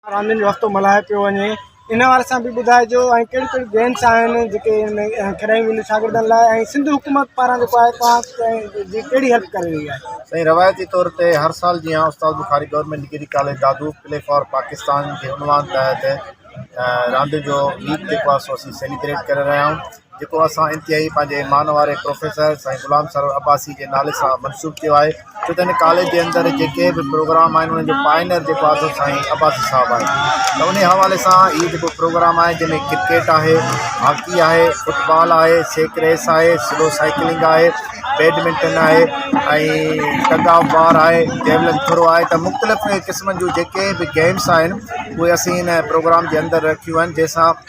راندين جو هفتو ملهايو پيو وڃي ان حوالي سان به ٻڌائجو ۽ ڪهڙيون ڪهڙيون گيمس آهن جيڪي کيڏايون وينديون شاگردن لاء ۽ سنڌ حڪومت پاران جيڪو آهي توهان جي ڪهڙي هيلپ ڪري رهي آهي سائين روايتي طور تي هر سال جيان Ustad Bukhari government degree college Dadu play for Pakistan جي عنوان تحت راندين جو ويڪ جيڪو آهي سو اسين سيليبريٽ ڪري رهيا آهيون جيڪو اسان انتهائي پنهنجي ايمان واري پروفيسر سائين غلام سرور عباسي جي نالي سان منسوب ڪيو آهي ڇو ته هن ڪاليج جي اندر جيڪي به پروگرام آهن انهن جو پائنر جيڪو آهي سو سائين عباسي صاحب آهي ته ان حوالي سان هي جيڪو پروگرام آهي جنهن ۾ ڪرڪيٽ آهي هاڪي آهي فٽ بال آهي سيڪ ريس آهي سلو سائيڪلنگ آهي بيڊمنٽن آهي ۽ ٽگ آف وار آهي جيولن ٿرو آهي ته مختلف قسمن جون جيڪي به گيمس آهن اهي اسين ان پروگرام جي اندر رکيون آهن جنهن سان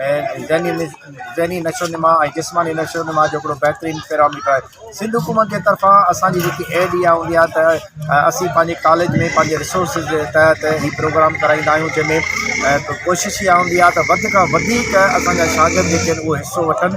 ذهني نشوونما ۽ جسماني نشوونما جو هڪڙو بهترين پيرااميٽر آهي سنڌ حڪومت جي طرفان اسانجي جيڪي ايڊ اها هوندي آهي ته اسين پنهنجي ڪاليج ۾ پنهنجي رسورسز جي تحت هي پروگرام ڪرائيندا آهيون جنهن ۾ ڪوشش اها هوندي آهي ته وڌ کان وڌيڪ اسانجا شاگرد جيڪي آهن اهو حصو وٺن